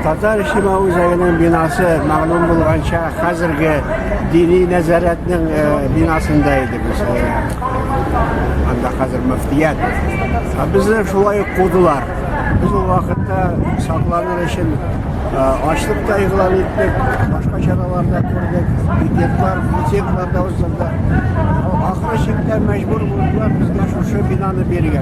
Татар Шима үзәгенең бинасы мәгълүм булганча хәзерге дини нәзарәтнең бинасында иде. Анда хәзер мөфтият. Ә безне шулай ук кудылар. Без ул вакытта сакланыр өчен ачлык та игълан иттек, башка чаралар да күрдек, пикетлар, митинглар да уздырдык. Ахыры чиктә мәҗбүр булдылар безгә шушы бинаны бирергә.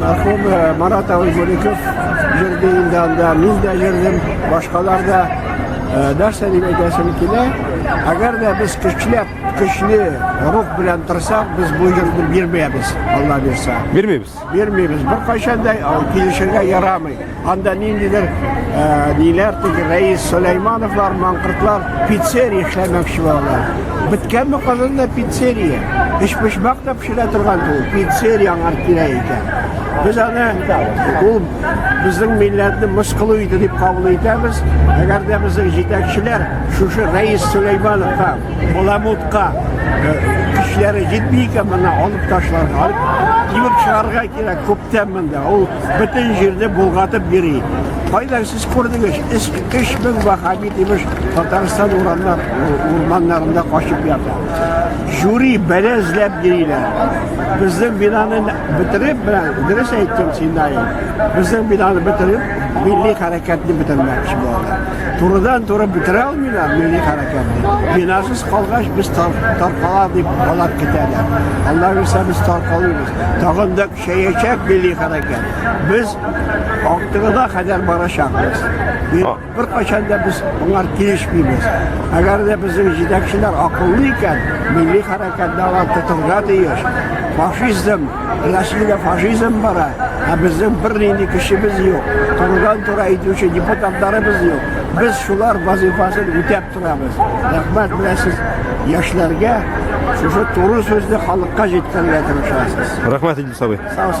Мәрхүм э, Марат абый Мөлеков җырды инде анда, мин дә җырдым, башкалар да э, нәрсә дип әйтәсем килә. Әгәр дә без көчләп, көчле рух белән торсак, без бу җырны бирмәбез, Алла бирсә. Бирмибез. Бирмибез. Беркайчан да килешергә ярамый. Анда ниндидер ниләр теге Рәис Сөләймановлар, маңкыртлар пиццерия эшләмәкче булалар. Беткәнме Казанда пиццерия? Өчпочмак та пешерә торган ул пиццерия аңар кирәк икән. Без аны ул безнең милләтне мыскылу иде дип кабул итәбез. Әгәр дә безнең җитәкчеләр шушы Рәис Сөләймановка, Баламутка көчләре җитми икән, моны алып ташларга, алып кибеп чыгарга кирәк күптән монда. Ул Бөтен җирне болгатып йөри. Кайда сез күрдегез? Эш кеш бен вахаби димеш Татарстан урамнар урманнарында качып ята. Жюри бәлә эзләп йөриләр. Безнең бинаны бетереп белән дөрес әйттем синдай. Безнең бинаны бетереп милли хәрәкәтне бетермәкче булалар. Турыдан туры бетерә алмыйлар милли хәрәкәтне. Бинасыз калгач без таркала дип алар китәләр. Аллаһ үсә без таркалыйбыз. Тагын да Чәячәк милли хәрәкәт. Без актыгына кадәр барачакбыз. Бер качан да без моңар килешмибез. Әгәр дә безнең җитәкчеләр акыллы икән, милли хәрәкәтне алар тотырга тиеш. Фашизм, Россиядә фашизм бара, ә безнең бернинди көчебез юк. Турыдан-туры әйтүче депутатларыбыз юк. Без шулар вазифасын үтәп Торабыз. Рәхмәт менә сез яшьләргә шушы туры сүзне халыкка җиткерергә тырышасыз. Рәхмәт Идрис абый. Сау